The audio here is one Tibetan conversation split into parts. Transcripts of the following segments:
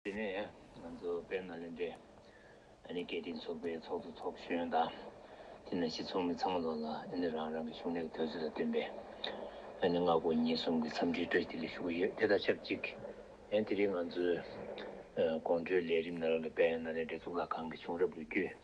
དེ་ནས་ང་ཚོ་དཔལ་ནཱ་ལེནྡྲའི་ཨ་ནི་ཀིརྟི་ཚོགས་པའི་ཚོགས་གཙོ་ཚོགས་གཞོན་དང་དེ་ནས་སྤྱི་ཚོགས་མི་ཚང་མ་ལོག་ལ་ཨ་ནི་རང་རང་གི་གཞུང་ལས་ཀྱི་དུས་ཚོད་ལ་བསྟུན་པའི་ཨ་ནི་སྔ་དགོང་ཉིན་གསུམ་གྱི་འཚམས་འདྲིའི་སྤྲོ་སྐྱིད་ལ་ཞུགས་ཀྱི་ཡོད་དེ་དང་ཆབས་ཅིག་དེ་རིང་ང་ཚོའི་དགོང་དྲོའི་ལས་རིམ་ནང་རང་གི་དཔལ་ནཱ་ལེནྡྲའི་གཙུག་ལག་ཁང་གི་བྱུང་རབས་ལོ་རྒྱུས།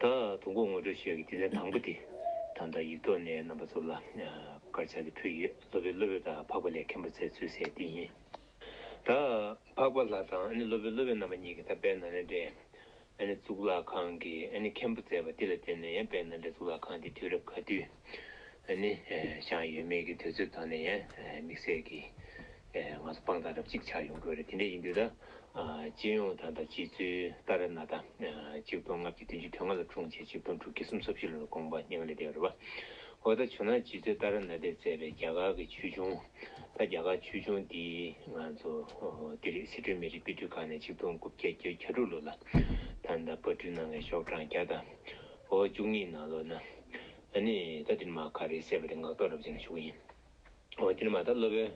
ད་དུང་གོ་ངོ་སྤྲོད་བྱེད་ཀྱི་དུས་ཚན་དང་པོ་དེ་ད་ལྟ་ཡིག་ཐོག་ནས་རྣམ་པ་ཚོ་ལ་སྐར་ཆ་དེ་ཕུལ་ཡོད་སློབ་དཔོན་སློབ་བུ་དང་འཕགས་པ་ལས་མཁན་པོ་ཚའི་ཚུལ་གསལ་འདི་ཡིན། ད་འཕགས་པ་ལགས་དང་སློབ་དཔོན་སློབ་བུ་རྣམ་པ་གཉིས་ཀྱིས་ད་དཔལ་ནཱ་ལེནྡྲའི་གཙུག་ལག་ཁང་གི་མཁན་པོ་མཛད་པ་འདི་ལ་བརྟེན་ནས་ཡང་དཔལ་ནཱ་ལེནྡྲའི་གཙུག་ལག་ཁང་འདི་དུས་རབས་ག་དུས་ནས་བཞག་ཡོད་མེད་ཀྱི་དུས་ཚོད་དག་ནས་ཡང་དམིགས་བསལ་གྱི་ང་ཚོ་དཔང་རྟགས་རབ་གཅིག་ཆགས་ཡོང་གི་རེད་དེ་འདྲ་ཡིན་དུས་ད་སྤྱི་ཡོངས་དང་དང་སྤྱི་ཚོའི་ལྟར་ན་ད་གཅིག་སྟོང་ལྔ་བརྒྱ་བདུན་ཅུ་དོན་ལྔ་ལ་འཁྲུངས་བྱས་གཅིག་སྟོང་དྲུག་བརྒྱ་གསུམ་བསོབ་བཞི་ལོ་ལ་དགོངས་པ་སྙིང་ལ་བརྡལ་བ་རེད་པ། འོ་ད་བྱུང་ན་སྤྱི་ཚོའི་ལྟར་ན་དེ་བཙས་པའི་རྒྱ་གར་གྱི་ཆོས་འབྱུང་ད་རྒྱ་གར་ཆོས་འབྱུང་འདི་ང་ཚོ་འདི་རེད་སི་ཁྲོན་མི་རིགས་དཔེ་སྐྲུན་ཁང་ནས་གཅིག་སྟོང་དགུ་བརྒྱ་བརྒྱད་གྱ་དྲུག་ལོ་ལ་ད་ད་དཔར་སྐྲུན་གནང་མཁན་ཤོག་གྲངས་བརྒྱ་དང་གོ་བ་བཅུ་གཉིས་ནང་ལོ་ན་ནས་ད་འདིར་མ་ག་རེ་བསད་པ་དེ་ངག་ཐོག་རབ་བྱས་ན་ཞུ་གི་ཡིན། ཨོ་དེ་ནི་མ་ད་སློབ་དཔོན།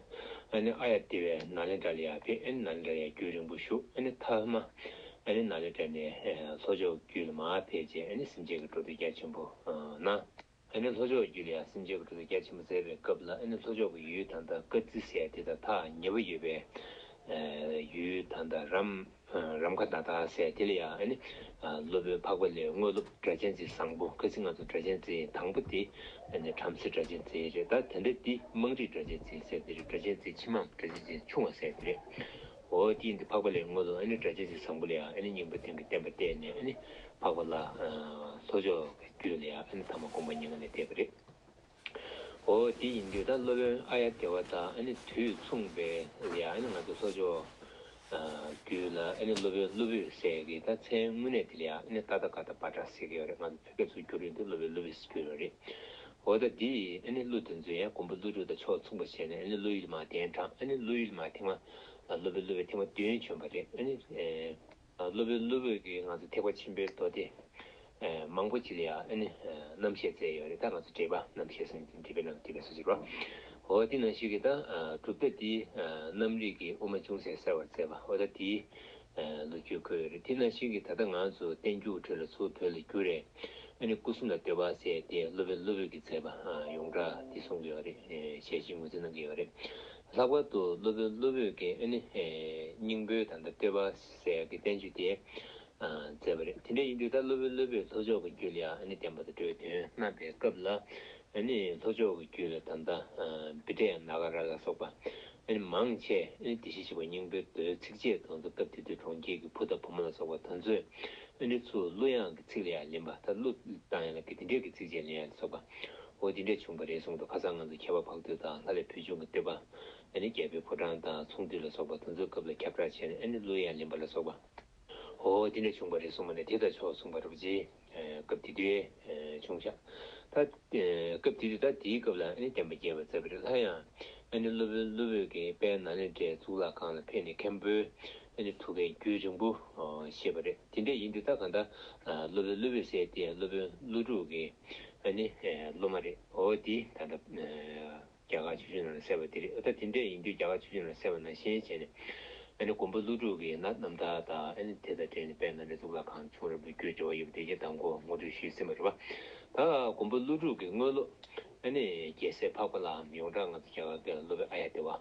ཨ་ནི་ཨ་ཡ་དེ་བས་ན་ལེན་དྲ་ལི་ཡ་བས་ཨ་ནི་ན་ལེན་དྲ་ཡ་རྒྱུད་རིང་པོ་བཞུགས་ཨ་ནི་དྷ་དྷ་མ། ཨ་ནི་ན་ལེན་དྲ་ནས་ལྷོ་ཕྱོགས་རྒྱུད་ལ་མ་ཕེབས་རྗེས་ཨ་ནི་སེམས་ཅན་གྱི་འགྲོ་འདུལ་རྒྱ་ཆེན་པོ་ན། ཨ་ནི་ལྷོ་ཕྱོགས་རྒྱུད་ལ་ཡང་སེམས་ཅན་གྱི་འགྲོ་འདུལ་རྒྱ་ཆེན་པོ་མཛད་པའི་སྐབས་ལ་ཨ་ནི་ལྷོ་ཕྱོགས་ཀྱི་ཡུལ་དྷ་མདའ་ཀ་ཙི་སའི་དེ་དང་ཐག་ཉེ་བོ་ཡོད་པའི། ཡུལ་དྷ་མདའ་རམ། རམ་ཁ་ད་དག་སེ་དེ་ལ་ཡ་ཨ་ནི། སློབ་དཔོན་འཕགས་པ་ལས་དངོས་སློབ་སྒྲ་གཅན་ཚའི་བཟང་པོ་ཁ་ཚིག་ང་ཚོ་སྒྲ་གཅན་ཚའི་དང་པོ་དེ་ཨ་ནི་བྲམ་ཟེ་སྒྲ་གཅན་ཚའི་རེད་ད་དེ་འདྲ་དེ་དམངས་རིགས་སྒྲ་གཅན་ཚའི་སེ་དེ་རེད་སྒྲ་གཅན་ཚའི་ཕྱི་མའམ་སྒྲ་གཅན་ཚའི་ཆུང་བ་སེ་དེ་རེད། འོ་དེའི་འདི་འཕགས་པ་ལས་དངོས་སློབ་ཨ་ནི་སྒྲ་གཅན་ཚའི་བཟང་པོ་ལ་ཡ་ཨ་ནི་སྙིང་པོ་དེང་གི་བསྟན་པ་བལྟས་ནས་ཨ་ནི་འཕགས་པ་ལ། ལྷོ་ཕྱོགས་ཀྱི་རྒྱུད་ལ་ཡ་ཨ་ནི་ཐ་མ་དགོངས་པ་སྙིང་ལ་བལྟས་པ་རེད། ཨོ་དེ་ཡིན་དུས་ད་སློབ་དཔོན་ཨ་ཡ་དེ་བ་དང་ཨ་ནི་དུས་མཚུངས་པས་ཡ་ཨ་ནི་ང་ཚོ་གསོ་སྦྱོར་རྒྱུད་ལ་ཨ་ནི་སློབ་དཔོན་སློབ་བུས་ཟེར་གི་ད་མཚན་དངོས་གནས་དེ་ལ་ཡ་ཨ་ནི་ཏཱ་ད་ག་ད་བ་དྲ་ཟེར་གི་ཡོད་རེད་ང་ཚོ་བོད་སྐད་ཚུར་བསྒྱུར་ཡིན་དུས་སློབ་དཔོན་སློབ་བུས་བསྒྱུར་བ་རེད་ཨོ་ད་དེ་ཨ་ནི་གླུ་དེ་ཚོས་ཡ་གོང་བུ་གླུ་དྲུག་དང་ཕྱོགས་མཚུངས་པ་བྱས་ནས་ཨ་ནི་གླུ་ཡུལ་མ་བསྟན་གྲང་ཨ་ནི་གླུ་ཡུལ་མ་ཐེངས་མ་ལ་སློབ་དཔོན་སློབ་བས་ཐེངས་མ་བདུན་བྱོན་པ་རེད་ཨ་ནི། སློབ་དཔོན་སློབ་བུ་གིས་ང་ཚོ་ཐེག་པ་ཆེན་པོའི་མདོ་སྡེ་མང་པོ་ཅི་ལ་ཡང་ཨ་ནི་རྣམ་བཤད་མཛད་ཡོད་རེད་ད་ང་ཚོ་འགྲེལ་པ་རྣམ་བཤད་གསན་ཅིང་འགྲེལ་པའི་རྣམ་འགྲེལ་པའི་སྲོལ་འབྱེད་པ། འོ་འདི་ནང་བཞིན་གྱི་ད་གྲུབ་མཐའ་འདིའི་རྣམ་རིག་གི་དབུ་མ་ཅུང་ཟད་གསལ་བར་མཛད་པ་འོ་ད་དེའི་ལོ་རྒྱུས་འཁོད་ཡོད་རེད་དེ་ནང་བཞིན་གྱི་ད་ལྟ་ང་ཚོ་བསྟན་རྒྱུགས་འཕྲོད་ལ་ཚུར་བོད་ལ་བསྒྱུར་རེ་ཨ་ནི་སྐུ་གསུམ་ལ་བསྟོད་པ་བསྩལ་ཏེ་སློབ་དཔོན་སློབ་བུ་གིས་མཛད་པ་ཡོངས་གྲགས་འདི་གསུངས་ཀྱི་ཡོད་རེད་ཞལ་བཞེས་ངོས་འཛིན་གནང་གི་ཡོད་རེད་ལྷག་པར་དུ་སློབ་དཔོན་སློབ་བུས་ཀྱི་སྙིང་པོའི་དང་པོ་སྟེར་བ་ཟེར་གྱི་བསྟན་བཅོས་དེ་མཛད་པ་རེད། དེ་འདྲ་ཡིན་དུས་ད་སློབ་དཔོན་སློབ་བུས་ལྷོ་ཕྱོགས་ཀྱི་རྒྱུད་ལ་ཡང་བསྟན་པ་དང་འགྲོའི་དོན་བསྣམས་པའི་སྐབས་ལ་ལྷོ་ཕྱོགས་ཀྱི་རྒྱུད་ལ་ད་ལྟ་བི་ཏྲ་ཡང་ན་ག་ར་ལ་སོགས་པ་མང་ཆེ་དེ་བཞིན་གཤེགས་པ་སྙིང་པོའི་མདོའི་ཚིགས་བཅད་དང་དུ་སྐབས་དེ་དུས་གྲོང་ཁྱེར་གྱི་བུ་དང་བུ་མོ་ལ་སོགས་པ་དང་ཚོས་ཚུར་གླུ་དབྱངས་ཀྱི་ཚིག་ལ་ཡང་ལེན་པ་ད་གླུ་དང་ཡང་ལ་གི་དེ་འདྲའི་གི་ཚིགས་བཅད་ལ་ཡང་ལ་སོགས་པ་ཨོ་དེ་འདྲས་བྱུང་བ་རེད་གསུངས་འདུག་ཁ་སང་ང་ཚོ་ཁ་བ་བག་དུད་དང་ལྷ་ལས་བུ་ཆུང་གི་བསྟོད་པ། ཨ་ནི་རྒྱལ་པོའི་ཕོ་བྲང་དང་ཚོང་འདུས་ལ་སོགས་པ་དུ་འཛོལ་སྐབས་ལ་ཁྱབ་བསྒྲགས་བྱས་ནས་ཨ་ནི་གླུ་དབྱངས་ལེན་པ་ལ་སོགས་པ། ཨོ་དེ་འདྲས་བྱུང་བ་རེད་གསུངས་པ་ནས་དེ་ལྟར་ཆོག་གསུངས་པ་རེད། སྐབས་དེ་དུས་ཆུང་ཤག་ད། སྐབས་དེ་དུས་ད་དེའི་སྐབས་ལ་ཨ་ནི་བསྟན་པ་རྒྱས་པར་མཛད་པ་རེད་ལྷ་དབྱངས། ཨ་ནི་གླུ་བོན་གླུ་བོད་ཀྱི་དཔལ་ནཱ་ལེནྡྲའི་གཙུག་ལག་ཁང་ལ་ཕེབས་ནས་མཁན་པོས་ཨ་ནི་ཐུགས་ཀའི་རྒྱུད་རིང་པོ་བཤད་པ་རེད་དེ་འདྲས་ཡིན་དུས་ད་ག་འདྲ་གླུ་བོན་གླུ་བོད་བསྲེས་ཏེ་གླུ་བོན་གླུ་དྲུག་གི་ཨ་ནི། སློབ་མ་རེད། འོ་དེ་ད་ལྟ། རྒྱ་གར་ཆོས་བྱུང་ནང་ལ་གསལ་བ་དེ་རེད། ད་དེ་འདྲ་ཡིན་དུས་རྒྱ་གར་ཆོས་བྱུང་ནང་ལ་གསལ་བ་ནང་བཞིན་བྱས་ནས། ཨ་ནི་མགོན་པོ་ཀླུ་སྒྲུབ་ཀྱིས་ན་རྣམ་ཐར་དང་ཨ་ནི་དེ་དང་འབྲེལ་ནས་དཔལ་ནཱ་ལེནྡྲའི་གཙུག་ལག་ཁང་ཆུང་རབ་ཏུ་བསྐྱོད་ཅེས་བ་ཡོད་པ་དེ་ཀྱང་དང་པོ་ངོ་སྤྲོད་ཞུས་ཟིན་པ་རེད་བ། ད་མགོན་པོ་ཀླུ་སྒྲུབ་ཀྱིས་དངོས་སློབ། ཨ་ནི་རྒྱལ་སྲས་འཕགས་པ་ལའམ་ཡོངས་གྲགས་ང་ཚོ་རྒྱ་གར་སྐད་ལ་སློབ་བའི་ཨ་ཡ་དེ་བ།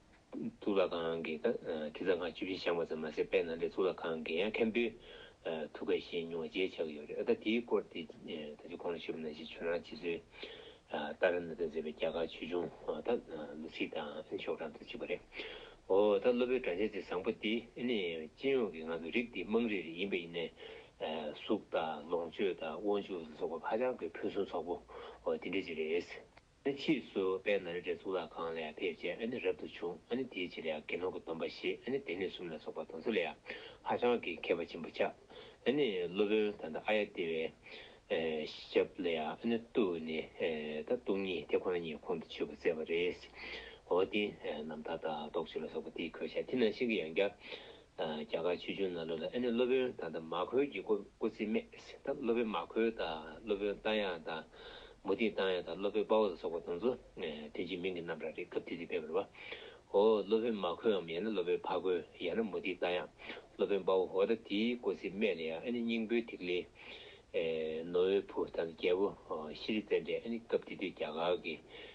གཙུག་ལག་ཁང་གི་དང་ཐིག་རྩ་ཁང་བཅུ་བཞི་བཞེངས་པ་ཙམ་མ་ཟད་དཔལ་ནཱ་ལེནྡྲའི་གཙུག་ལག་ཁང་གི་ཡང་མཁན་པོའི་ཐུགས་ཀ་བཞེས་མྱོང་བ་བརྗེད་བྱ་གི་ཡོད་རེད་ཨ་ད་དེའི་སྐོར་དེ་ད་ཅི་གོང་ལ་ཤི་བ་ན་ཤི་ཆོས་རང་ཆེ་ཚུལ་ཏཱ་ར་ནཱ་ཐར་མཛད་པའི་རྒྱ་གར་ཆོས་འབྱུང་ད་ལོ་ཚིག་དང་ཤོག་གྲངས་དུ་བཅུག་པ་རེད་འོ་ད་སློབ་དཔོན་སྒྲ་འཇལ་ཚེ་བཟང་པོ་འདི་ནི་སྤྱི་ཡོངས་ཀྱི་ང་ཚོ་རིགས་འདི་དམངས་རིགས་རེ་ཡིན་པ་ཡིན་ནས་གཟུགས་དང་ལོངས་སྤྱོད་དང་དབང་ཕྱུག་ལ་སོགས་པ་ཧ་ཅང་གི་ཕུན་སུམ་ཚོགས་པོ་འོ་དེ་འདྲ་ཅིག་རེད། ཨ་ཕྱིས་སུ་པད་ན་རི་བྲེ་གཙུག་ལག་ཁང་ལས་ཕེབས་རྗེས་ཨ་ནི་རབ་ཏུ་བྱུང་ཨ་ནི་དེའི་རྗེས་ལ་དགེ་སློང་གི་སྡོམ་པ་བཞེས་ཨ་ནི་སྡེ་སྣོད་གསུམ་ལ་སོགས་པ་དང་ཚུལ་ལ་ཧ་ཅང་གི་མཁས་པ་ཆེན་པོ་ཆགས་ཨ་ནི་སློབ་དཔོན་ད་ནྡ་ཨ་ཡ་ཏི་བའི་ཞབས་ལ་ཨ་ནི་ཏུ་ནི་ད་སྟུག་ཉིད་དེ་ཁོ་ན་ཉིད་ཁོང་དུ་ཆུད་པར་མཛད་པ་རེད། འོ་དེ་རྣམས་ད་ད་ཏོག་ཆུ་ལ་སོགས་པ་དེའི་གོས་ཆ་དེ་ནང་བཞིན་གྱི་ཡང་བསྐྱར་རྒྱ་གར་ཆོས་འབྱུང་ནང་ལུགས་ལ་ཨེ་ནི་སློབ་དཔོན་ད་ལྟ་མ་ཁོལ་གྱིས་སྐུ་ཚེ་སྨད། ད་སློབ་དཔོན་མ་ཁོལ་དང་སློབ་དཔོན་རྟ་དབྱངས་དང། མུ་ཏིག་རྟ་དབྱངས་དང་སློབ་དཔོན་དཔའ་བོ་ལ་སོགས་པ་དང་ཚུ་དོན་གྱི་མིང་གི་རྣམ་གྲངས་རེ་སྐབས་དེ་དུས་བེད་པར་བ། ཧོ། སློབ་དཔོན་མ་ཁོལ་འམ་ཡང་ན་སློབ་དཔོན་ཕ་ཁོལ་ཡང་ན་མུ་ཏིག་རྟ་དབྱངས། སློབ་དཔོན་དཔའ་བོ་ཧོ། ད་དེའི་སྐུ་ཚེ་སྨད་ལ་ཡང་ཨེ་ནི་སྙིང་པོའི་ཐིག་ལེ། ནོར་བུའི་བུ་ད་ལ་རྒྱལ་པོ་ཤྲཱི་རི་ཙནྡྲས་ཨེ་ནི་སྐབས་དེ་དུས་རྒྱ་གར་གྱི་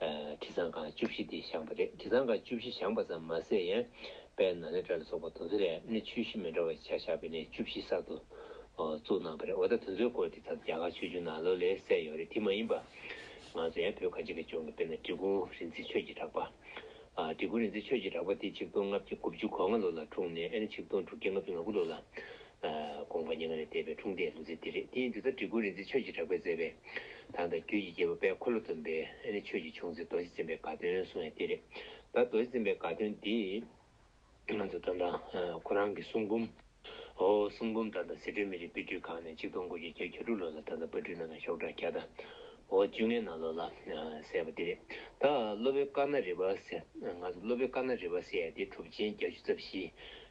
དྲི་བཟང་ཁང་བཅུ་བཞི་དེ་བཞེངས་པ་རེད་དྲི་བཟང་ཁང་བཅུ་བཞི་བཞེངས་པ་ཙམ་མ་ཟད་ཡན་པའི་ནཱ་ལེནྡྲ་ལ་སོགས་པ་དུང་ཟེར་ཡབ་ནི་ཆོས་གཞི་མི་འདྲ་བ་ཆ་བཞག་པའི་གནས་བཅུ་བཞི་གསར་དུ་བཙུགས་གནང་པ་རེད་འོ་ད་དེ་ཚོའི་སྐོར་དེ་ད་རྒྱ་གར་ཆོས་འབྱུང་ནང་ལོ་ལེགས་གསལ་ཡོད་རེད་དེ་མ་ཡིན་པ་ང་ཚོ་ཡང་བོད་གངས་ཅན་གྱི་ལྗོངས་ཀྱི་དཔེ་ན་འབྲི་གུང་རིན་ཚེ་ཆོས་ཀྱི་གྲགས་པ། འབྲི་གུང་རིན་ཚེ་ཆོས་ཀྱི་གྲགས་པ་དེ་ཆིག་སྟོང་ལྔ་བརྒྱ་དགུ་བཅུ་གོ་ལྔ་ལོ་ལ་འཁྲུངས་ནས་ཨ་ནི་ཆིག་སྟོང་དྲུག་བརྒྱ་ང་བཅུ་ང་དགུ་ལོ་ལ་དགོངས་པ་སྙན་ངག་ལས་འདས་པའི་འཁྲུངས་འདས་ལུས་རྩལ་འདི་རེད་དེ་འདི་ལྟར་བྲིས་སྐུ་རིག་འཛིན་ཆོས་ཀྱི་གྲགས་པས་མཛད་པའི། དང་ད་རྒྱུད་ཀྱི་རྒྱལ་པོ་དཔལ་འཁོར་ལོ་སྡོམ་པའི་ནི་ཆོས་ཀྱི་ཆུང་ཚེ་རྡོ་རྗེ་འཛིན་པའི་དགའ་སྟོན་གསུང་ཡང་འདི་རེད། ད་རྡོ་རྗེ་འཛིན་པའི་དགའ་སྟོན་འདི། ང་ཚོ་རྩོམ་རང། ཁོ་རང་གི་གསུང་འབུམ། ཨོ་གསུང་འབུམ་ད་ལྟ་ཟི་ཁྲོན་མི་རིགས་དཔེ་སྐྲུན་ཁང་ནས་ཆིག་སྟོང་དགུ་བརྒྱ་བརྒྱད་བརྒྱ་དྲུག་ལོ་ལ་ད་ལྟ་དཔར་སྐྲུན་གནང་ནས་ཤོག་གྲངས་གྱ་ད་ཨོ་བཅུ་ལྔའི་ནང་ལོ་ལ་གསལ་བ་འདི་རེད། ད་སློབ་དཔོན་ཀ་ན་རི་བ་སེ། ང་ཚོ་སློབ་དཔོན་ཀ་ན་རི་བ་སེ་ཡ་འདི་གྲུབ་ཆེན་བརྒྱ་བཅུ་རྩ་བཞི།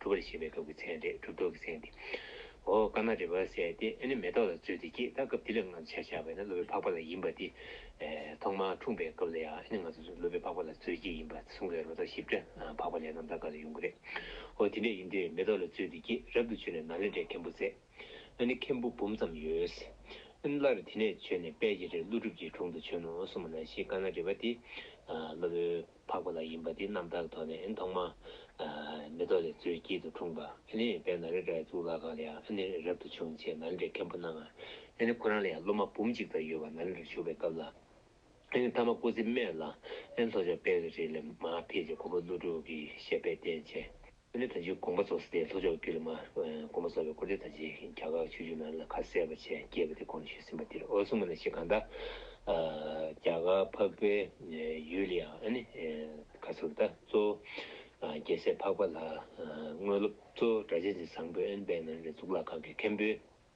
གྲུབ་པར་བྱེད་པའི་སྐབས་ཀྱི་མཚན་རེད་གྲུབ་ཐོབ་ཀྱི་མཚན་དེ། འོ་ཀ་ན་རེ་བ་ཟས་ཏེ་ཨ་ནི་མེ་ཏོག་ལ་བཙོས་ཏེ་སྐྱེས་ད་སྐབས་དེ་ལས་སྔར་ཆ་བཞག་པས་ན་ཀླུ་པའི་འཕགས་པ་ལ་ཡིན་པ་དེ། ཐོག་མར་འཁྲུངས་པའི་སྐབས་ལ་ཡང་ཨ་ནི་ང་ཚོས་ཀླུ་པའི་འཕགས་པ་ལ་བཙོས་སྐྱེས་ཡིན་པ་གསུངས་པས་རོ་ད་ཞིབ་ཕྲ་འཕགས་པ་ལས་ན་ད་ག་ལ་ཡོང་གི་རེད། འོ་དེ་འདྲ་ཡིན་དུས་མེ་ཏོག་ལ་བཙོས་ཏེ་སྐྱེས་རབ་ཏུ་བྱོན་ནས་ན་ལེ་འདྲའི་མཁན་པོ་མཛད། ཨ་ནི་མཁན་པོ་འབུམ་ཙམ་ཡོད། ཨ་ནི་སླར་དེ་ནས་བྱོན་ནས་དཔལ་གྱི་རིར་ཀླུ་སྒྲུབ་ཀྱི་དྲུང་དུ་བྱོན་ནོ་གསུངས་པ་ན་ཞེས་ཀ་ན་རེ་བ་དེ། ཀླུ། འཕགས་པ་ལ་ཡིན་པ་འདི་རྣམ་དག་དོན་ནི་ཐོག་མ། མེ་ཏོག་ལས་མཛོད་དཀྱིལ་དུ་འཁྲུངས་པ། ནི་བན་དྷ་རི་རྭའི་གཙུག་ལག་ཁང་ལས་ཡང་ནི་རབ་ཏུ་བྱུང་ཅེས་ནཱ་ལེནྡྲའི་མཁན་པོ་སྣང། ནི་ཁོ་རང་ལ་ཡང་སློབ་མ་འབུམ་གཅིག་ཙམ་ཡོད་པ་ནཱ་ལེནྡྲར་བཞུགས་པའི་སྐབས་ལ། ནི་ཐ་མ་སྐུ་ཚེ་སྨད་ལ། ནི་ལྷོ་ཕྱོགས་དཔལ་གྱི་རི་ལས་མ་འཕེལ་ཅིག་ཁོ་བོ་ཀླུ་སྒྲུབ་ཀྱི་ཞལ་པད་བསྟན་ཅེས། ཀུན་ཏུ་ད་ཅིའི་དགོངས་པ་རྫོགས་ས་དེ་ལྷོ་ཕྱོགས་ཀྱུ་ལི་མ། དགོངས་པ་རྫོགས་པའི་སྐུ་དེ་ད་ཅིའི་གྱ་གག་ཆུ་ཆུ་ནང་ལ་ཁ་གསལ་བ་ཆེ་སྐྱེས་པ་དེ་དགོངས་ཞུས་ཟིན་པ་འདིར་ཨོ་སུ་མ་ན་ཤི་ག་འདའ། གྱ་གག་འཕགས་པའི་ཡུལ་ལ་ཡང་ནི་ག་ཟུར་ད་གཙོ། རྒྱལ་སྲས་འཕགས་པ་ལ་དངོས་སློབ་གཙོ། སྒྲ་གཅན་གཅིག་བཟང་པོའི་ཨན་པའི་ནང་ནས་གཙུག་ལག་ཁང་གི་མཁན་པོའི།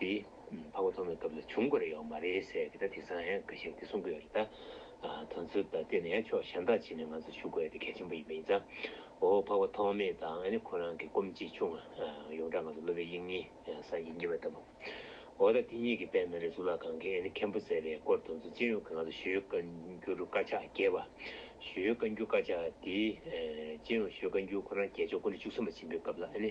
དེ་འཕགས་པ་མཐོང་བའི་སྐབས་ལ་བྱུང་དགོས་རེ་ཡོག་མ་རེད་ཟེར་གི་ད་དེང་སང་ཡང་ག་ཤེད་དེ་གསུང་གི་ཡོག་རེད་ད། དོན་ཚུལ་དང་བསྟུན་ནས་ཡང་ཕྱོགས་གཞན་དག་བྱེད་ནས་ང་ཚོ་ཞུ་དགོས་དེ་གལ་ཆེན་པོ་ཡིན་པ་ཡིན་ཙང། འོ་འཕགས་པ་ཐོག་མེད་དང་ཨ་ནི་ཁོ་རང་གི་སྐོམ་སྐྱིད་ཆུང་ཡོངས་གྲགས་ང་ཚོ་སློབ་པའི་དབྱིངས་ཉིད་སངས་རྒྱས་ཉིད་པ་ལྟ་བུ། འོ་ད་དེ་གཉིས་ཀྱི་དཔེ་མེ་རི་གཙུག་ལག་ཁང་གི་ཨ་ནི་མཁན་པོ་ཟེར་བའི་སྐོར་དོན་ཚུལ་ཅི་ཡོང་གི་ང་ཚོ་ཞུ་ཡོད་བཀའ་འགྱུར་རུ་དཀར་ཕྱག་རྒྱས་པ། ཞུ་ཡོད་བཀའ་འགྱུར་དཀར་ཕྱག་དེ། ཅི་ཡོང་ཞུ་ཡོད་བཀའ་འགྱུར་ཁོ་རང་རྒྱལ་མཆོག་སྐུ་ན་བཅུ་གསུམ་པ་ཆེན་པོའི་སྐབས་ལ་ཨ་ནི།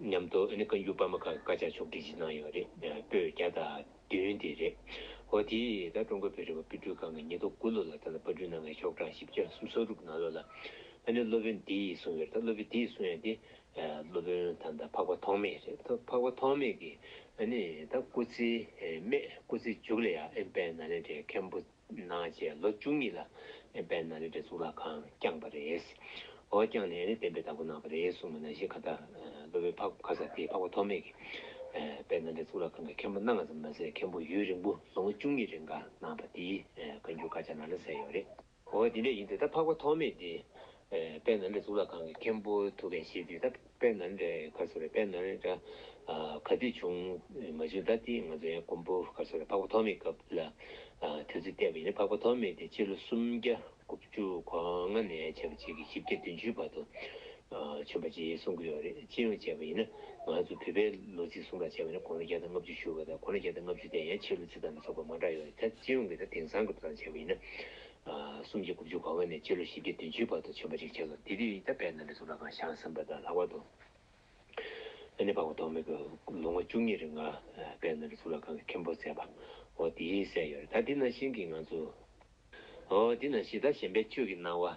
མཉམ་དུ་བཀའ་འགྱུར་པར་མ་ཁག་གི་དཀར་ཆག་ཕྱོགས་བསྒྲིགས་བྱེད་གནང་ཡོད་རེད། པོད་བརྒྱ་དང་བདུན་དེ་རེད། ཧོ། དེ་ལྟར་ཀྲུང་གོའི་བོད་རིག་པ་དཔེ་སྐྲུན་ཁང་གིས་ཉིས་སྟོང་དགུ་ལོ་ལ་ད་ལྟ་དཔར་སྐྲུན་གནང་མཁན་ཤོག་གྲངས་བཞི་བརྒྱ་གསུམ་གསོག་སྒྲུབ་གནང་ལོ་ལ། ད་ནི་སློབ་དཔོན་འདི་ཡིས་གསུངས་ཡོད་རེད་ད་སློབ་དཔོན་འདིས་གསུངས་ཡོད་དེ། སློབ་དཔོན་ད་ད་འཕགས་པ་ཐོགས་མེད་རེད་ད་འཕགས་པ་ཐོགས་མེད་ཀྱིས། ད་སྐུ་ཚེའི་སྨད་སྐུ་ཚེའི་མཇུག་ལ་ཡང་ཨེམ་པའི་ནཱ་ལེནྡྲའི་མཁན་པོ། ནང་བཅས་ལོ་བཅུ་གཉིས་ལ་པའི་ནང་ལས་གྲྭའི་གཙུག་ལག་ཁང་བསྐྱངས་པ་རེད། འོ་བསྐྱངས་ནས་ནས་བསྟན་པའི་བདག་པོ་གནང་བ་རེད་གསུངས་པ་ནང་བཞིན་ཁ་བརྡ་ལོ་བའི་ཕག་ཁ་ས་དེའི་ཕག་པ་ཐོགས་མེད་ཀྱིས་པའི་ནང་ལས་གཙུག་ལག་ཁང་གི་མཁན་པོ་སྣ་ལྔ་ཙམ་མ་ཟད་མཁན་པོ་ཡུན་རིང་པོ་ལོ་ངོ་བཅུ་གཉིས་རེ་འགའ་གནང་བ་དེའི་བཀའ་འགྱུར་དཀར་ཆག་ནང་ལ་གསལ་ཡོད་རེད། འོ་དེ་འདྲ་ཡིན་དུས་ད་ཕག་པ་ཐོགས་མེད་དེ་དཔལ་ནཱ་ལེནྡྲའི་གཙུག་ལག་ཁང་གི་མཁན་པོ་ཐུ་བྷན་ཤེ་ཏི་ད་དཔལ་ནཱ་ལེནྡྲའི་གར་སོ་རེ་དཔལ་ནཱ་ལེནྡྲ་ག་དུས་བྱུང་མ་བྱུང་ད་ལྟིས་ང་ཚོའི་གོང་བུ་གར་སོ་རེ་འཕགས་པ་ཐོགས་མེད་སྐབས་ལ་དུས་ཚོད་བལྟས་པ་ཡིན་ན་འཕགས་པ་ཐོགས་མེད་དེ་སྤྱི་ལོ་སུམ་བརྒྱ་དགུ་བཅུ་གོ་ལྔ་ནས་བྱས་པ་གཅིག་གིས་བཞི་བརྒྱ་བདུན་ཅུའི་བར་དུ་བྱོན་པ་ཅེས་གསུང་གི་ཡོད་རེད་སྤྱི་ཡོངས་བྱས་པ་ཡིན་ན་ང་ཚོ་བོད་པའི་ལོ་ཚིགས་གསུང་རག་བྱས་པ་ཡིན་ན་གོང་ལོ་བརྒྱ་དང་ལྔ་བཅུ་བཞུགས་པ་དང་གོང་ལོ་བརྒྱ་དང་ལྔ་བཅུ་དེ་ཡང་ཕྱི་ལོ་ཚིགས་དང་མི་ཚོགས་པ་མང་དྲགས་ཡོད་རེད་ད་སྤྱི་ཡོངས་ཀྱི་ད་དེང་སང་གི་དུས་དང་བྱས་པ་ཡིན་ན་གསུམ་གྱི་དགུ་བཅུ་གོ་བ་ནས་སྤྱི་ལོ་བཞི་བརྒྱ་བདུན་ཅུའི་བར་དུ་བྱོན་པ་ཞིག་བྱས་སོ། དེ་དུས་ཡིད་ལྟ་དཔལ་ནཱ་ལེནྡྲའི་གཟུགས་ལ་ཁང་ཤང་ཟིན་པ་དང་ལྷག་པར་དུ། ཨ་ནེ་འབངས་བོ་དོག་མེད་ཀྱིས་ལོ་ངོ་བཅུ་གཉིས་རེ་ལྔ་དཔལ་ནཱ་ལེནྡྲའི་གཟུགས་ལ་ཁང་གི་མཁན་པོར་མཛད་པ། འོ་དེ་གསལ་ཡོད་རེད་ད། དེ་ནང་བཞིན་གྱི་ང་ཚོ། འོ་དེ་ནང་བཞིན་ད་གཞན་པའི་ཆོས་ཀྱི་སྣང་བ།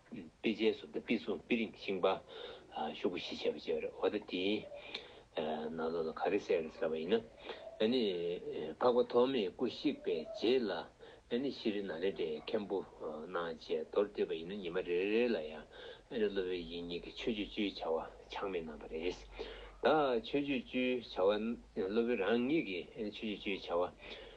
པི་ཇའི་སོགས་དང་པི་སོགས་པི་རིང་གི་ཤིང་པ། ཤོག་བུ་ཞེས་བྱ་བ་བྱེ་བ་རེ་བ་དེའི་ནང་ལོགས་ལ་ག་རེ་སེར་ཟེར་བ་ཡིན་ན། ནི། འཕགས་པ་ཐོགས་མེད་སྐུ་གཤེགས་པའི་རྗེས་ལ། ནི་ཤི་རི་ན་རེ་ཏའི་མཁན་པོ་རྣམས་བཅས་མདོར་བསྡུས་པ་ཡིན་ན་ཉི་མ་རེ་རེ་ལ་ཡང། ནི་སློབ་དཔོན་ཡིག་གཉིས་ཀྱི་ཆོས་སྤྱོད་བཅུའི་བྱ་བ་ཆག་མེད་གནང་བ་རེ་རེས། དག་ཆོས་སྤྱོད་བཅུའི་བྱ་བ། སློབ་དཔོན་རང་ཉིད་ཀྱིས་ནི་ཆོས་སྤྱོད་བཅུའི་བྱ་བ།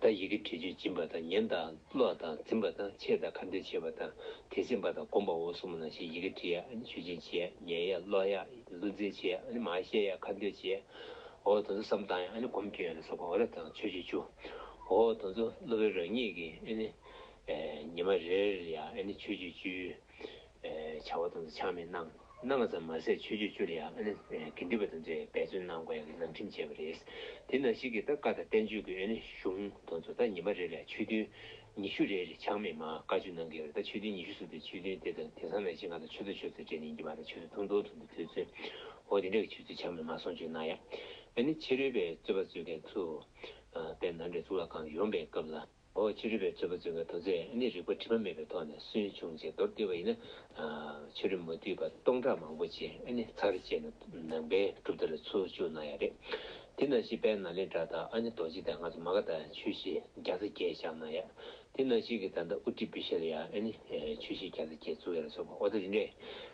དང་ཡི་གེ་དྲི་ཆུས་སྦྱིན་པ་དང་ཉན་དང་ཀློག་དང་འཛིན་པ་དང་འཆད་དང་ཁ་འདོན་བྱེད་པ་དང་དེ་ཟིན་པ་དང་བསྒོམ་པའོ་གསུམ་མོ་ན་ཞེས་ཡི་གེ་དྲི་ཡ་ཆུས་སྦྱིན་བྱེད་ཉན་ཡ་ཀློག་ཡ་བློ་འཛིན་བྱེད་མ་ཤེས་ཡ་ཁ་འདོན་བྱེད། འོ་དང་ཚུལ་བསམ་བཏང་ཡ་བསྒོམ་བསྐྱོད་ཡ་ལ་སོགས་པའོ་རབ་དང་ཆོས་ཀྱི་ཆུ། འོ་དང་ཚུལ་བློ་བས་རང་ཉིད་ཀྱི་ཉི་མ་རེ་རེར་ཡ་ཆོས་ཀྱི་ཆུའི། བྱ་བ་དང་ཆགས་མེད་གནང་གནང་ཙམ་མ་ཟད་ཆོས་སྤྱོད་བཅུ་ལ་ཡང་དགེ་འདུན་པ་དང་མཛོད་ཡང་འབད་བརྩོན་གནང་དགོས་ཡང་གི་ནང་ཁྲིམས་བཅས་པ་རེད། དེ་ནང་བཞིན་གྱི་ད་བཀའ་དང་བསྟན་བཅོས་ཀྱི་གཞུང་དང་མཛོད་ད་ཉི་མ་རེ་ལ་ཆོས་ཐུན་ཉི་ཤུ་རེ་རེ་ཆགས་མེད་མ་བཀའ་བཅུ་གནང་གི་རེད་ད་ཆོས་ཐུན་ཉི་ཤུ་ཟུར་དུ་ཆོས་ཐུན་དེ་དང་དེ་ཚང་མས་ཕྱི་ནང་དང་ཆོས་ཚོགས་ཆོས་ཚོགས་བཅས་ཉིན་གྱི་བར་དང་ཆོས་ཚོགས་ཐུང་ཐུང་ཐུང་དུ་ཕུལ་ཚུལ་འོ་དེ་འདྲ་གི་ཆོས་ཚུལ་ཆགས་མེད་མ་སོང་ཆོས་གནང་ཡང་ཕྱི་རོལ་པའི་རྩོད་པ་རྩོད་མཁན་ཚོས་དཔེར་ན་འདྲེ་གཙུག་ལག་ཁང་གི་ཡོམ་པའི་སྐབས་ལ། ཨོ་ཕྱི་རུལ་བའི་རྩོད་པ་རྩོད་མཁན་དོ་ཚད་ནི་རིག་པ་དྲི་མ་མེད་པའི་ཐོག་ནས་སུན་ཕྱུང་བྱེད་མདོར་བསྡུས་པ་ཡིན་ན། ཕྱི་རུལ་མ་བསྡུས་པ་སྟོང་ཕྲག་མང་པོ་ཅན་ནི་ཚར་བཅད་ནས་ནང་པའི་གྲུབ་མཐའ་ལ་ཚུར་བཅུག་གནང་ཡག་རེད། དེ་ན་ཞིག་དཔལ་ནཱ་ལེནྡྲ་དང་རྡོ་རྗེ་དང་ང་ཚོ་མ་ག་དག་ཆོས་གཞི་བརྒྱ་རྩ་བརྒྱད་བཞག་གནང་ཡག། དེ་ན་ཞིག་གི་ད་ལྟ་ཨུ་ཏི་བི་ཤལ་ཡ་ནི་ཆོས་གཞི་བརྒྱ་རྩ་བརྒྱད་བཙུགས་ཡག་ལ་སོགས་པ་ཨོ་ད་རིན་རེད།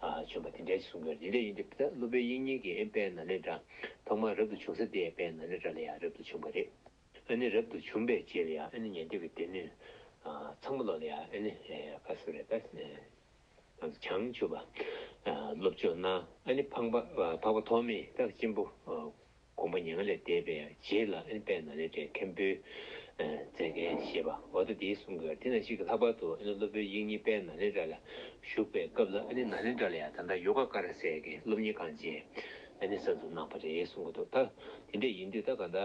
བྱོན་པ་དེ་འདྲའི་གསུང་དོན་དེ་འདྲ་ཡིན་དུས་སློབ་དཔོན་དབྱིག་གཉེན་གྱི་དཔལ་ན་ལེནྡྲ་ཐོག་མར་རབ་ཏུ་བྱུང་ས་དེའི་དཔལ་ན་ལེནྡྲ་ལ་ཡང་རབ་ཏུ་བྱུང་བ་རེད། ཨཱ་ནི་རབ་ཏུ་བྱུང་པའི་རྗེས་ལ་ཡང་ཨཱ་ནི་ཉན་ཐོས་ཀྱི་སྡེ་སྣོད། ཚངས་པ་ལོག་ལ་ཡང་ཨཱ་ནི་ཀ་སུ་ར་ཏཱི། བྱང་ཆུབ་སེམས་དཔའ་སློབ་ཆོས་སྣང་ཨཱ་ནི་འཕགས་པ་ཐོགས་མེད་རྟག་ཅན་པོ། དགོངས་པ་ཉེ་བ་ལས་འདས་པའི་རྗེས་ལ་ཨེར་པའི་ནཱ་ལེནྡྲའི་མཁན་པོའི་མཛད་འགན་ཞེས་པ་འོ་ད་དེའི་གསུང་གི་དེ་ན་ཞིག་གི་ལྷག་པར་དུ་ཨེ་ནུ་སློབ་དཔོན་ཡིག་གཉིས་པས་ནཱ་ལེནྡྲ་ལ་བཞུགས་པའི་སྐབས་ལ་ཨེ་ནི་ནཱ་ལེནྡྲ་ལ་ཡང་ད་ལྟ་ཡོ་ག་ཀ་ར་སས་ཀྱི་སློབ་གཉེར་ཁང་ཅན་ཨེ་ནི་གསར་དུ་གནང་བ་རེད་གསུང་གི་འདུག་ད་དེ་འདྲ་ཡིན་དུས་ད་ག་ད་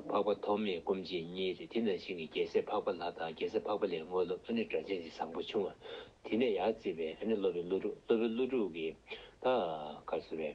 འཕགས་པ་ཐོགས་མེད་སྐུ་མཆེད་གཉིས་རེད་དེ་ན་ཞིག་གི་རྒྱལ་སྲས་འཕགས་པ་ལྷ་དང་རྒྱལ་སྲས་འཕགས་པ་ལས་དངོས་སློབ་ཨེ་ནི་སྒྲ་གཅན་གཅིག་བཟང་པོ་བྱུང་བ་དེ་ནས་ཡར་བརྩིས་པའི་ཨེ་ནི་སློབ་དཔོན་ཀླུ་སྒྲུབ་སློབ་དཔོན་ཀླུ་སྒྲུབ་ཀྱིས་ད་གར་བཟོ་བའི།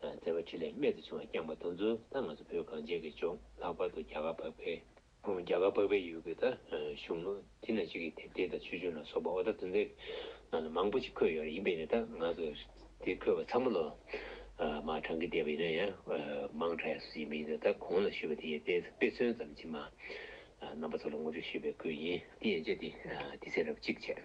བརྩེ་བ་ཕྲིན་ལས་རྨད་དུ་བྱུང་བ་བསྐྱངས་པ་དང་མཚུངས་ད་ང་ཚོ་བོད་གངས་ཅན་གྱི་ལྗོངས་ལྷག་པར་དུ་རྒྱ་གར་འབབ་པའི་རྒྱ་གར་འབབ་པའི་ཡུལ་གྱི་ད་གཞུང་ལུགས་དེ་ན་ཅིག་གི་དེབ་ཐེར་དང་ཆོས་འབྱུང་ལ་སོགས་པ་ཨོ་ད་དོན་ཚན་ནང་ལ་མང་པོ་ཅིག་འཁོད་ཡོད་རེད་ཡིན་པས་ན་ད་ང་ཚོ་དེ་འཁོད་པ་ཚང་མ་ལོ་མང་གྲངས་ཀྱིས་བསྡད་པ་ཡིན་ན་ཡང་མང་གྲས་སུ་ཡིན་པ་ཡིན་ན་ད་གོང་ལ་ཞུས་པ་དེ་ཡི་དཔེ་མཚོན་ཙམ་གྱིས་མ་རྣམ་པ་ཚོ་ལ་ངོ་སྤྲོད་ཞུས་པའི་ཁུལ་ཡིན་དེ་ཡན་ཆད་དེ་ཚེ་རབས་གཅིག་བྱས།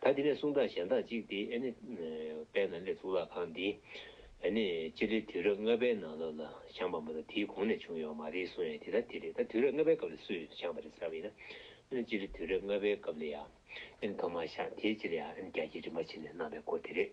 ད་དེ་ནས་གསུང་དག་གཞན་དག་ཅིག་སྟེ་ཨནི། དཔལ་ནཱ་ལེནྡྲའི་གཙུག་ལག་ཁང་འདི། ཨནི། སྤྱི་ལོའི་དུས་རབས་ལྔ་པའི་ནང་ལོ་ལ་བཞེངས་པ་མ་གཏོགས་དེའི་གོང་ནས་བྱུང་ཡོད་པ་མ་རེད་གསུང་ཡང་དེ་ལྟར་དེ་རེད་ད་དུས་རབས་ལྔ་པའི་སྐབས་ལ་སུས་བཞེངས་པ་རེད་ཟེར་བ་ཡིན་ན། ཨནི་སྤྱི་ལོའི་དུས་རབས་ལྔ་པའི་སྐབས་ལ་ཡང། ཨནི་ཐོག་མར་བཞེངས་དེའི་སྤྱི་ལ་ཡང་ཨནི་རྒྱ་ཁྱི་རིན་པོ་ཆེ་ནས་གནང་བའི་སྐོར་དེ་རེད།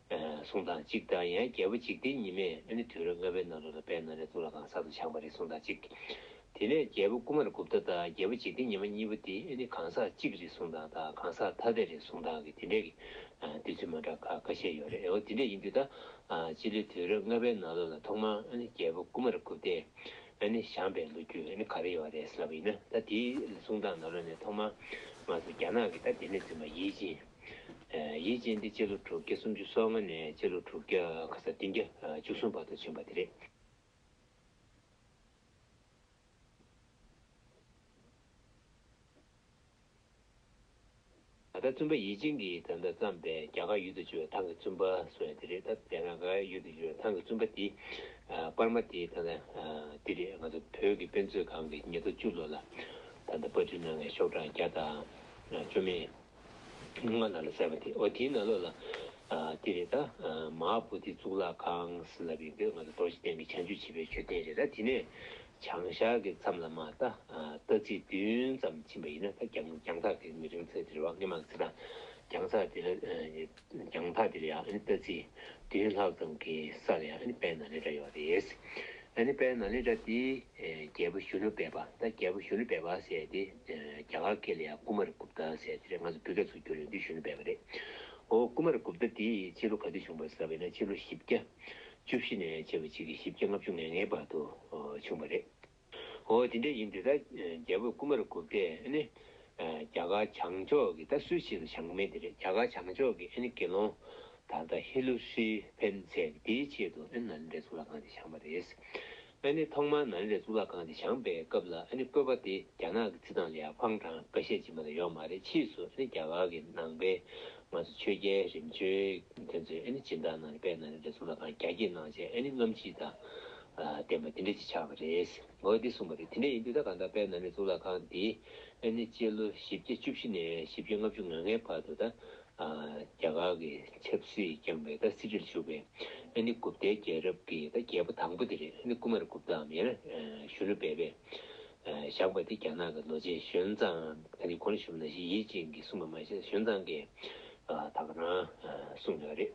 གསུང་དང་གཅིག་བདག་ཡང་རྒྱལ་པོ་འཇིག་རྟེན་ཉི་མས་ཨ་ནི་དུས་རབས་ལྔ་པའི་ནང་ལོ་ལ་པའི་ནང་རེ་ཙུག་ལ་གང་ཟག་ཏུ་ཆགས་པ་རེད་གསུང་དང་གཅིག། དེ་ནས་རྒྱལ་པོ་ཀུ་མར་གུབ་ཏ་དང་རྒྱལ་པོ་འཇིག་རྟེན་ཉི་མ་གཉིས་པོ་དེ་ཨེ་ནི་གང་ཟག་གཅིག་རེད་གསུང་དང་དང་གང་ཟག་ཐ་དད་རེད་གསུང་དང་གི་དེ་འདྲས་ཀི་འདུས་ཚུལ་མ་འདྲ་ཁ་ཁ་ཤས་ཡོད་རེད་ཨོ་དེ་འདྲས་ཡིན་དུས་ད་སྤྱི་ལོའི་དུས་རབས་ལྔ་པའི་ནང་ལོ་ལ་ཐོག་མར་ཨ་ནི་རྒྱལ་པོ་ཀུ་མར་གུབ་ཏས་ཨེ་ནི་བཞམས་པའི་ལོ་རྒྱུས་ཨེ་ནི་ག་རེ་ཡོད་རེད་ལབ་ཡིན་ན་ད་དེའི་གསུང་དང་ནང་ལོ་ནས་ཐོག་མར་ང་ཚོ་རྒྱ་ནག་གི་ད་དེ་ནས་བཙུན་པ་ཡིད་ཅིང། ཡིད་བཞིན་འདི་སྤྱི་ལོ་དྲུག་བརྒྱ་སུམ་ཅུ་སོ་ལྔ་ནས་སྤྱི་ལོ་དྲུག་བརྒྱ་ག་ས་བདུན་བརྒྱ་བཅུ་གསུམ་བར་དུ་བྱོན་པ་དེ་རེད། ད་ལྟ་བཙུན་པ་ཡིད་བཞིན་གྱིས་ད་ལྟ་བརྩམས་པའི་རྒྱ་གར་ཡུལ་དུ་བྱོན་བའི་ཐང་གི་བཙུན་པ་སོགས་ཡང་དེ་རེད་ད་ལྟ་རྒྱ་གར་ཡུལ་དུ་བྱོན་བའི་ཐང་གི་བཙུན་པ་དེ་པར་མ་དེ་ད་ལྟ་འདི་རེད་ང་ཚོ་བོད་ཀྱི་དཔེ་མཛོད་ཁང་གི་ཉེ་དུ་བཅུ་ལོ་ལ་ད་ལྟ་པར་སྐྲུན་གནང་མཁན་ཤོག་གྲངས་བརྒྱ་དང་བཅོ་མེད། སྔགས་ནང་ལ་གསལ་བ་དེ་འོ་དེའི་ནང་ལོགས་ལ། འདི་རེད་ད། མ་ཧཱ་བྷོ་དྷི་གཙུག་ལག་ཁང་སི་ལ་བི་འདོད་ང་ཚོ་རྡོ་རྗེ་གདན་གྱི་བྱང་ཆུབ་བྱེད་པའི་མཆོད་རྟེན་རེད་ད་དེ་ནས། བྱང་ཤར་གྱི་མཚམས་ལ་མ་ད་རྟ་རྩིག་བདུན་ཙམ་ཕྱིན་པ་ཡིན་ན་ད་གྱང་ཐག་དེ་མི་རིང་ཚད་དེ་རེད་བ་སྔས་མ་གི་ཚེ་ད་གྱང་ཚག་དེ་ལ། རྒྱང་ཐག་འདིར་ཡང་ཨཱ་ནི་ལྟ་ཚིག་བདུན་ལྷག་ཙམ་གྱི་སར་ཡང་ཨཱ་ནི་པའི་ནཱ་ལེནྡྲ་ཡོད་རེད། ཨཱ་ནི་པའི་ནཱ་ལེནྡྲ་འདི་རྒྱལ་པོ་ཞུ་ནུ་བེ་པ་ད་རྒྱལ་པོ་ཞུ་ནུ་བེ་པ་ཟས་དེ་རྒྱ་གར་ཀེ་ལི་ཡ་ཀུ་མ་རི་གུབ་ཏ་ཟས་དེ་རེད་ང་ཚོ་བོད་སྐད་ཚུར་བསྒྱུར་ཡོང་དུས་ཞུ་ནུ་བེ་པ་རེད། ཨོ་ཀུ་མ་རི་གུབ་ཏ་འདི་ཕྱི་ལོ་ག་དུས་བྱུང་བར་ཟེར་བས་ན་ཕྱི་ལོ་བཞི་བརྒྱ་བཅུ་བཞི་ནས་བྱེ་བ་གཅིག་གིས་བཞི་བརྒྱ་ལྔ་བཅུ་ང་ལྔའི་བར་དུ་བྱུང་བ་རེད། ཨོ་དེ་འདྲ་ཡིན་དུས་ད་རྒྱལ་པོས་རྐུན་མར་བསྒུགས་ཏེ་ཨེ་ནི། རྒྱ་གར་བྱང་ཕྱོགས་ཀྱི་ད་སུའི་ཆེད་དུ་བྱང་མེད་དེ་རེད་རྒྱ་གར་བྱང་ཕྱོགས་ཀྱི་ཨེ་ནི་དགེ་སློང་ད་ལྟ་ཧེ་ལུ་སི་ཕེན་ཚེ་དེའི་ཆེད་དུ་ཨེ་ནི་ནཱ་ལེནྡྲའི་གཙུག་ལག་ཁང་དེ་བྱང་བ་རེད། ཨེ་ནི་ཐོག་མར་ནཱ་ལེནྡྲའི་གཙུག་ལག་ཁང་དེ་བྱང་པའི་སྐབས་ལ་ཨེ་ནི་བཀོད་པ་དེ་རྒྱ་ནག་གི་རྩིས་ཐང་ལ་ཡང་ཧྥང་ཀྲང་ཀ་ཤས་ཅིག་མ་གཏོགས་ཡོད་མ་རེད་ཕྱིས་སུ་ཨེ་ནི་རྒྱ་གར་གྱི་ནང་པའི་ང་ཚོ་ཆོས་རྒྱལ་རིམ་བྱོན་དེ་ཚོས་ཨེ་ནི་སྦྱིན་བདག་ནང་པས་ནཱ་ལེནྡྲའི་གཙུག་ལག་ཁང་རྒྱ་སྐྱེད་གནང་བྱས་ཨེ་ནི་རྔམ་བརྗིད་དང་བསྟན་པ་དེ་འདྲ་ཅིག་ཆགས་པ་རེད། འོ་དེ་གསུངས་པ་དེ་དེ་འདྲ་ཡིན་དུས་ད་གང་ལྟར་དཔལ་ནཱ་ལེནྡྲའི་གཙུག་ལག་ཁང་འདི་ཨེ་ནི་སྤྱི་ལོ་བཞི་བརྒྱ་བཅུ་བཞི་ནས་བཞི་བརྒྱ་ལྔ་བཅུ་ང་ལྔའི་བར་དུ་ད་རྒྱ་གར་གྱི་ཆབ་སྲིད་བསྐྱངས་པའི་ད་སྲིད་ཁྲི་ལ་བཞུགས་པའི་ཨེ་ནི་གུབ་ཏའི་རྒྱལ་རབས་ཀྱི་ད་རྒྱལ་པོ་དང་པོ་དེ་རེད་ཨེ་ནི་ཀུ་མཱར་གུབ་ཏའམ་ཡང་ན་གཞོན་ནུ་སྦས་པས་བཞག་པ་དེ་རྒྱ་ནག་གི་ལོ་ཆེན་གཞོན་བཟངས་ཨེ་ནི་གོ་ན་ཤུ་མ་ན་ཤི་ཡིད་བཞིན་གྱིས་གསུངས་པ་མ་ཤེས་གཞོན་བཟངས་ཀྱིས་ད་ག་རང་གསུངས་ཡོད་རེད།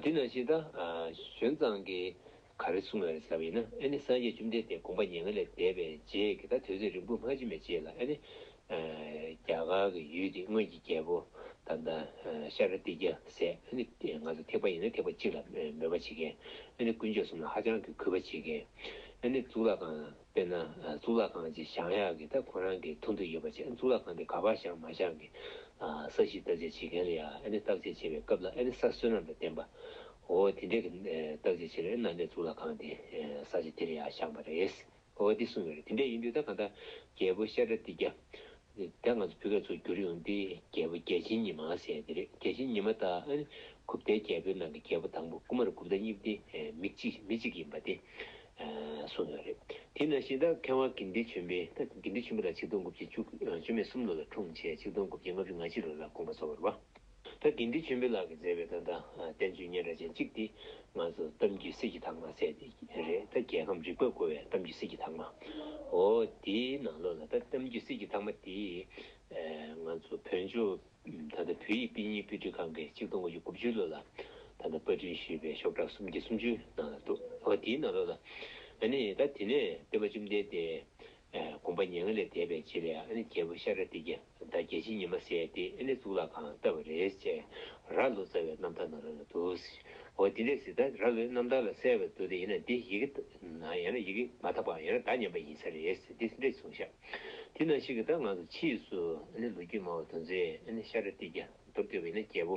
དེས་ན་ཕྱི་དང། གཞོན་གཙང་གི། ག་རེ་གསུངས་ན་རེ་ཟ་བ་ཡིན་ན་ཨེ་ནི་སངས་རྒྱས་བཅོམ་ལྡན་འདས་དགོངས་པ་ཉེ་ལྔ་ལས་འདས་པའི་རྗེས་ཀྱི་ད་དོལ་ཚེ་རིང་པོ་སྔ་ཕྱི་མའི་རྗེས་ལ་ཨེ་ནི། རྒྱ་གར་གྱི་ཡུལ་འདི་སྔོན་གྱི་རྒྱལ་པོ། དང་ད། ཤཱ་ར་ཏི་རྒྱལ་སྲས་ཨེ་ནི། ང་ཚོ་ཐེག་པ་ཡིན་ན་ཐེག་པ་གཅིག་ལ་མོས་པ་བྱེད་མཁན། ཨེ་ནི་དཀོན་མཆོག་གསུམ་ལ་ཧ་ཅང་གི་གུས་པ་བྱེད་མཁན། ཨེ་ནི་གཙུག་ལག་ཁང། དཔེར་ན། གཙུག་ལག་ཁང་ཅིག་བཞག་ཡག་གི་ད་ཁོ་རང་གི་ཐུགས་འདོད་ཡོད་པ་བྱས་གཙུག་ལག་ཁང་དེ་ག་པར་བཞག་མ་བཞག་གི། ས་གཞི་བརྟག་དཔྱད་བྱེད་མཁན་ལ་ཡང་ཨ་ནི་བརྟག་དཔྱད་བྱེད་པའི་སྐབས་ལ་ཨ་ནི་ས་བསོད་ནམས་དང་བསྟན་པ། འོ་དེ་འདྲས་ཀྱི་བརྟག་དཔྱད་བྱེད་ལ་ཨེ་ནང་པའི་གཙུག་ལག་ཁང་དེ་ས་ཆ་དེ་ལ་ཡང་བཞག་པ་རེད། འོ་འདི་གསུངས་ཡོད་རེད་དེ་འདྲས་ཡིན་དུས་ད་གང་ལྟར་རྒྱལ་པོ་ཤ་ཀྲ་ཏི་རྒྱ། དེ་ང་ཚོ་བོད་སྐད་ཚོར་འགྱུར་ཡོང་དུས་རྒྱལ་པོ་རྒྱལ་ཆེན་ཉི་མ་ཟེར་ཡོད་དེ་རེད་རྒྱལ་ཆེན་ཉི་མ་དང་ཨ་ནི་གུབ་ཏའི་རྒྱལ་པོའི་ནང་གི་རྒྱལ་པོ་དང་པོ་ཀུ་མ་ར་གུབ་ཏ་གཉིས་དེ་མི་གཅིག་མི་གཅིག་ཡིན་པ་དེ་གསུངས་ཡོད་རེད་དེས་ན་ཤིང་རྟ་མཁས་དབང་དགེ་འདུན་ཆེན་པོས་ད་དགེ་འདུན་ཆེན་པོ་ལ་ཆིག་སྟོང་དགུ་བརྒྱ་བཅུ་བཅུ་མེད་གསུམ་ལོ་ལ་འཁྲུངས་བྱས་ཆིག་སྟོང་དགུ་བརྒྱ་ལྔ་བཅུ་ང་གཅིག་ལོ་ལ་དགོངས་པ་གསོལ་བར་བ། ད་དགེ་འདུན་ཆེན་པོའི་ལག་གིས་མཛད་པའི་ཏན་ཏན་བསྟན་བཅོས་སྙན་གྲགས་ཅན་གཅིག་འདི་ང་ཚོ་གཏམ་རྒྱུད་སྲིད་ཀྱི་དྭངས་མ་ཟེར་ཏེ་རེད་ད་རྒྱལ་ཁམས་རིག་པར་རྒོལ་བའི་གཏམ་རྒྱུད་སྲིད་ཀྱི་དྭངས་མ་འོ་དེའི་ནང་ལོགས་ལ་ད་གཏམ་རྒྱུད་སྲིད་ཀྱི་དྭངས་མ་དེ་ང་ཚོ་བོན་ཆོས་ད་ལྟ་བོད་ཡིག་དཔེ་རྙིང་དཔེ་སྐྲུན་ཁང་གིས་གཅིག་སྟོང་དགུ་བཅུ་དགུ་བཅུའི་ལོ་ལ་ད་ལྟ་དཔར་སྐྲུན་ཞུས་པའི་ཤོག་གྲངས་སུམ་བརྒྱ་སུམ་ཅུའི་ནང་ལ་འདུག་འོ་དེའི་ནང་ལོགས་ལ་ཨ་ནི་ད་དེ་ནས་སྟོན་པ་བཅོམ་ལྡན་འདས་དགོངས་པ་ཉེ་ལྔ་ལས་འདས་པའི་རྗེས་ལས་ཨ་ནི་རྒྱལ་པོ་ཤཱ་ར་ཏི་ཀྱ། ཟླ་བརྒྱད་ཕྱི་ཉི་མ་བསད་དེ་ཨེ་ལི་གཙུག་ལག་ཁང་ལ་བསྟབས་པ་རེད་ཅེས་ར་ལོ་རྩ་བའི་རྣམ་ཐར་ནང་ར་ལོ་འདུག་ཟེར། འོ་འདི་འདྲའི་ཟེར་ད་ར་ལོའི་རྣམ་ཐར་ལ་གསལ་བའི་འདུག་དེ་ཡིན་ན་འདི་ཡི་གེ་ནང་ཡང་ན་ཡི་གེ་མ་དག་པའམ་ཡང་ན་བརྡ་ཉམས་པ་ཡིན་ས་རེད་ཟེར་འདི་འདྲའི་གསུང་བཤད། དེ་ནང་བཞིན་གྱི་བརྡ་ངང་དུ་ཕྱིས་སུ་ཨེ་ལི་ལོ་རྒྱུས་སྨྲ་བ་དོན་ཚེ་ཨེ་ལི་ཤ་ར་ཏི་རྒྱ་མདོར་བསྐྱོད་པ་ཡིན་ན་རྒྱལ་པོ